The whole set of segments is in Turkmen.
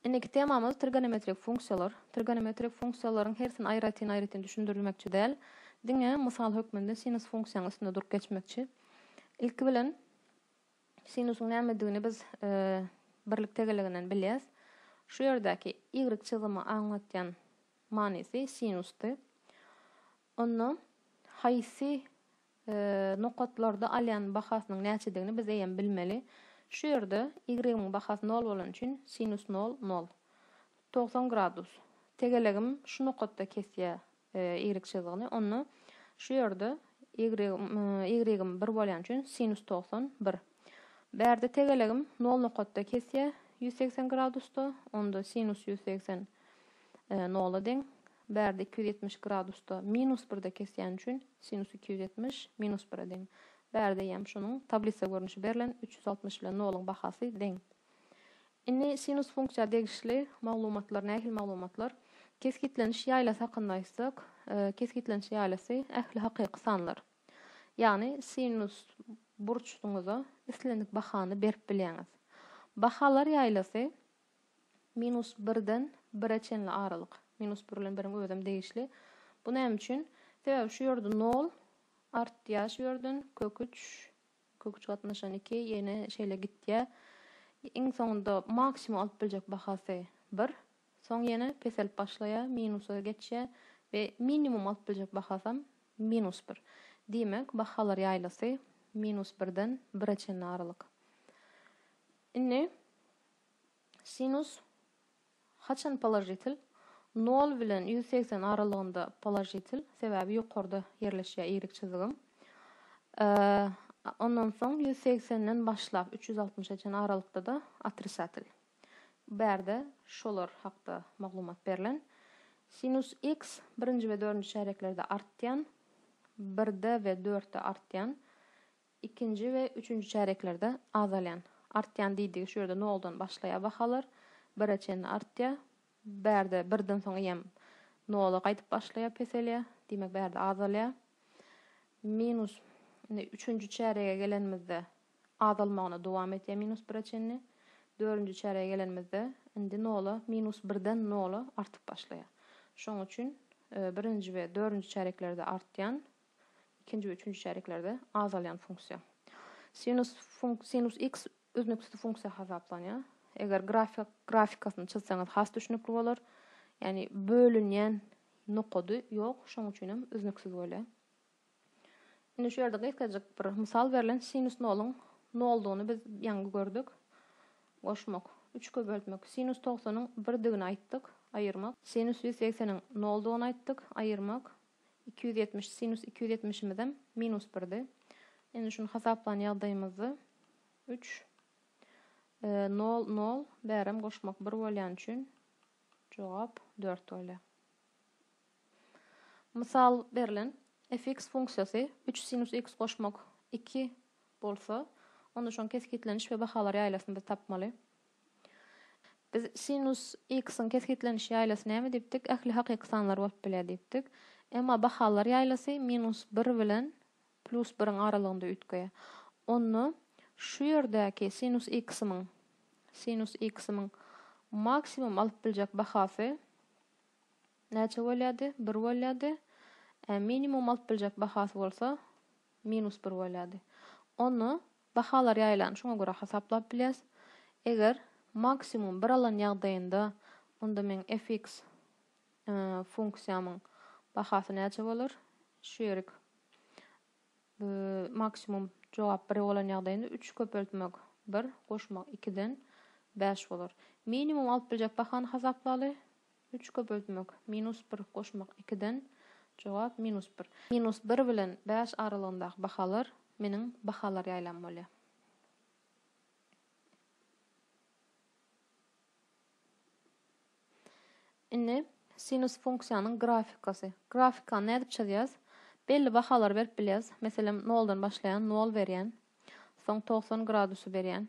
Indiki temamyz trigonometrik funksiýalar. Trigonometrik funksiýalaryň hersini aýratyn-aýratyn düşündirilmekçi däl, diňe mysal hökmünde sinus funksiýanyň üstünde durup geçmekçi. Ilki bilen sinusyň nämedigini biz birlik tegeleginden bilýäs. Şu ýerdäki y çyzymy aňlatýan manysy sinusdy. Onda haýsy Nokatlarda alýan bahasynyň näçedigini biz eýýäm bilmeli. Şu ýerde y-yň bahasy nol bolany üçin sinus nol, nol. Togsan gradus. Tegelegim şu nokatda kesýär y çyzgyny. Onda şu ýerde y-yň bir bolýany üçin sinus togsan, bir. Bärde tegelegim nol nokatda kesýär, ýüz segsen gradusda. Onda sinus ýüz segsen nola deň. Bärde iki ýüz ýetmiş gradusda minus birde kesýäni üçin sinus iki ýüz ýetmiş minus bire deň. Bärde eýýäm şunuň tablisa görnüşi berlen, üç ýüz altmyş ile nolyň bahasy deň. Indi sinus funksiýa degişli maglumatlar nähili maglumatlar? Kesgitleniş ýaýlasy hakynda aýtsak, kesgitleniş ýaýlasy ähli hakyky sanlar. Ýagny sinus burçsyňyza islendik bahany berip bilýäňiz. Bahalar ýaýlasy Minus birden bire çenli aralyk. Minus bir bilen biriň özem degişli. Bu näme üçin? Sebäbi şu ýerde nol artýar şu ýerden, kök üç, kök üç gatnaşan iki, ýene şeýle gitýär. Iň soňunda maksimum alyp biljek bahasy bir. Soň ýene peselip başlaýar, minusa geçýär we minimum alyp biljek bahasam minus bir. Diýmek, bahalar ýaýlasy minus birden bire çenli aralyk. Indi. Sinus haçan položitel? Nol bilen ýüz segsen aralygynda položitel, sebäbi ýokarda ýerleşýär iýrik çyzygym. Ondan soň ýüz segsenden başlap üç ýüz altmyşa çenli aralykda-da otrisatel. Bu bärde şolar hakda maglumat berlen. Sinus x birinji we dördünji çärýeklerde artýan, birde we dörtde artýan, Ikinji we üçünji çärýeklerde azalýan, artýan diýdigi şu ýerde noldan başlaýar bahalar, bire çenli artýar. Bärde birden soň eýýäm nola gaýdyp başlaýar, peselýär. Diýmek bärde azalýar. Minus indi üçünji çärýege gelenimizde azalmagyna dowam etýär minus bire çenli. Dördünji çärýege gelenimizde indi nola minus birden nola artyp başlaýar. Şonuň üçin birinji we dördünji çärýeklerde artýan, ikinji we üçünji çärýeklerde azalýan funksiýa. Sinus funk sinus x üznüksiz funksiýa hasaplanýar. Eger grafik grafikasyny çyzsaňyz has düşünikli bolar. Ýani bölünýän nokady ýok, şonuň üçin hem üznüksiz bolýar. Indi şu ýerde gysgajyk bir mysal berlen sinus noluň noldugyny biz ýaňy gördük. Goşmak, 3 kö böltmek. Sinus 90-yň 1 digini aýtdyk, aýyrmak. Sinus 180-iň noldugyny aýtdyk, aýyrmak. iki ýüz ýetmiş, sinus iki ýüz ýetmişimizem minus birdi. Indi şuny hasaplan ýagdaýymyzda üç, nol, nol, bärem goşmak bir bolýan üçin jogap dört bolýar. Mysal berlen fx funksiýasy üç sinus x goşmak iki bolsa, onda şoň kesgitleniş we bahalar ýaýlasyny biz tapmaly. Biz sinus x-iň kesgitleniş ýaýlasy näme diýipdik? Ähli hakyky sanlar bolup bilýär diýipdik. Emma bahalar ýaýlasy minus bir bilen plus biriň aralygynda üýtgeýär. Onda şu ýerdäki sinus x-imiň sinus x-imiň maksimum alyp biljek bahasy näçe bolýardy? Bir bolýardy. Ä minimum alyp biljek bahasy bolsa minus bir bolýardy. Onda Bahalar ýaýylany şoňa görä hasaplap bilýäs. Eger maksimum bir alan ýagdaýynda, onda meň fx funksiýamyň bahasy näçe bolar? Şu ýerik maksimum jogap bir bolan ýagdaýynda üç köpeltmek bir, goşmak ikiden bäş bolar. Minimum alyp biljek bahany hasaplaly. Üç köpeltmek, minus bir, goşmak, ikiden, Jogap, minus bir. Minus bir bilen bäş aralygyndaky bahalar meniň bahalar ýaýlam bolýar. Indi sinus funksiýanyň grafikasy. Grafikany nädip çyzýas? Belli bahalary berip bilýäs. Meselem, noldan başlaýan, nol berýän. Soň togsan gradusy berýän.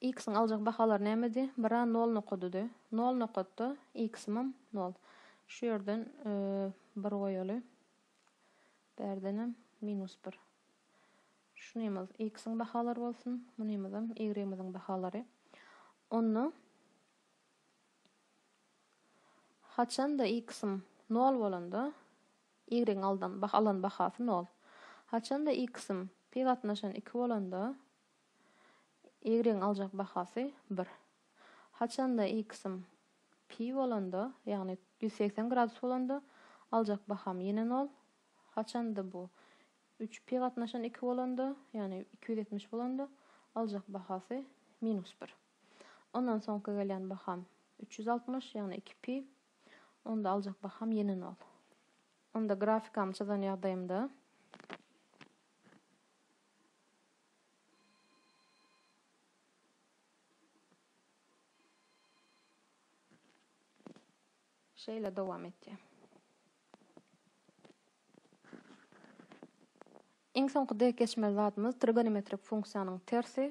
X-iň aljak bahalary nämedi? Bir a nol nokadydy. Nol nokatda X-imam nol. Şu ýerden bir goýaly. Bärdenem minus bir. Şunymyz X-iň bahalary bolsun. Munymyzam Y-imiziň bahalary. Onda haçanda X-im nol bolanda Y-iň alan bahasy nol. Haçanda X-im pi gatnaşan iki bolanda Ýigriň aljak bahasy bir. Haçanda X-im pi bolanda, ýagny ýüz segsen gradus bolanda, aljak baham ýene nol. Haçanda bu üç pi gatnaşan iki bolanda, ýagny iki ýüz ýetmiş bolanda, aljak bahasy minus bir. Ondan soňky gelýän baham üç ýüz altmyş, ýagny iki pi. Onda aljak baham ýene nol. Onda grafikamy çyzan ýagdaýymda. Şeýle dowam etýär. Iň soňky dek geçmeli zadymyz trigonometrik funksiýanyň tersi.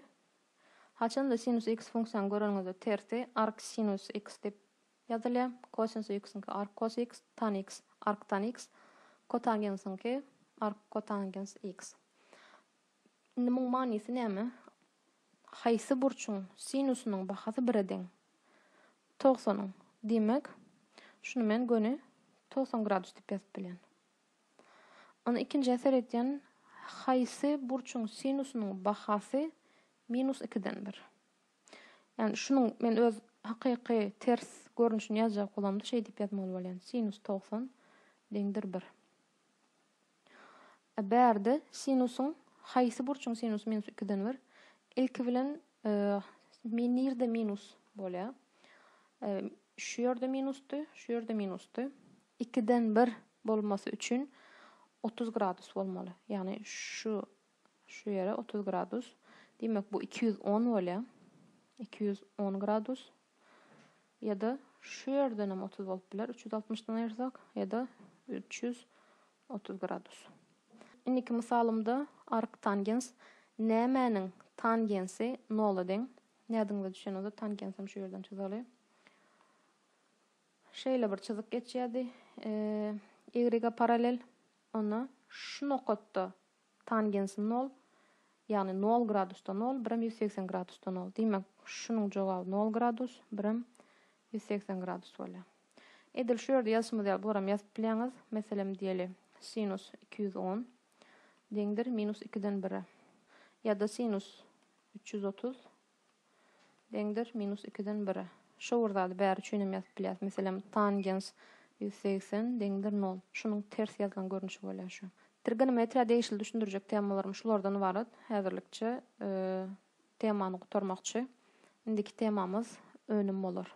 Haçanda sinus x funksiýany göreniňizde tersi ark sinus x diýip ýazylýar. Kosinus x-iňki ark kos x, tan x ark tan x, kotangensiňki ark kotangens x. Indi muň manysy näme? Haýsy burçuň sinusynyň bahasy bire deň? Togsanyň. Diýmek, şuny men göni togsan gradus diýip ýazyp bilýän. Ony ikinjä seretýän, haýsy burçuň sinusynyň bahasy minus ikiden bir? Ýagny şunuň men öz hakyky ters görnüşini ýazjak bolamda şeýdip ýazmaly bolýan, sinus togsan deňdir bir. A bärde sinusyň haýsy burçuň sinusy minus ikiden bir? Ilki bilen min nirde minus bolýa? Şu ýerde minusdy, şu ýerde minusdy. Ikiden bir bolmasy üçin otuz gradus bolmaly. Ýagny şu Şu ýere otuz gradus. Diýmek, bu iki ýüz on bolýar. Iki ýüz on gradus. Ýa-da şu ýerden hem otuz bolup biler. Üç ýüz altmyşdan aýyrsak, ýa-da üç ýüz otuz gradus. Indiki mysalymda arktangens nämäniň tangensi nola deň? Ýadyňyza düşen bolsa, tangens hem şu ýerden çyzaly. Şeýle bir çyzyk geçýärdi. Y-a parallel. Onda şu nokatda Tangens nol, ýagny nol gradusda nol, birem ýüz segsen gradusda nol. Diýmek, şunuň jogaby nol gradus, birem ýüz segsen gradus bolýar. Edil şu ýerde ýazyşymyz ýaly bularam ýazyp bilýäňiz. Meselem, diýeli, sinus iki ýüz on deňdir minus ikiden bire. Ýa-da sinus üç ýüz otuz Deňdir minus ikiden bire. Şo bir zady bäri üçin hem ýazyp bilýäs. Meselem, tangens ýüz segsen deňdir nol. Şunuň ters ýazylan görnüşi bolýar şu. Trigonometriýa degişli düşündirjek temalarym şulardan ybarat. Häzirlikçe temany gutarmakçy. Indiki temamyz önüm bolar.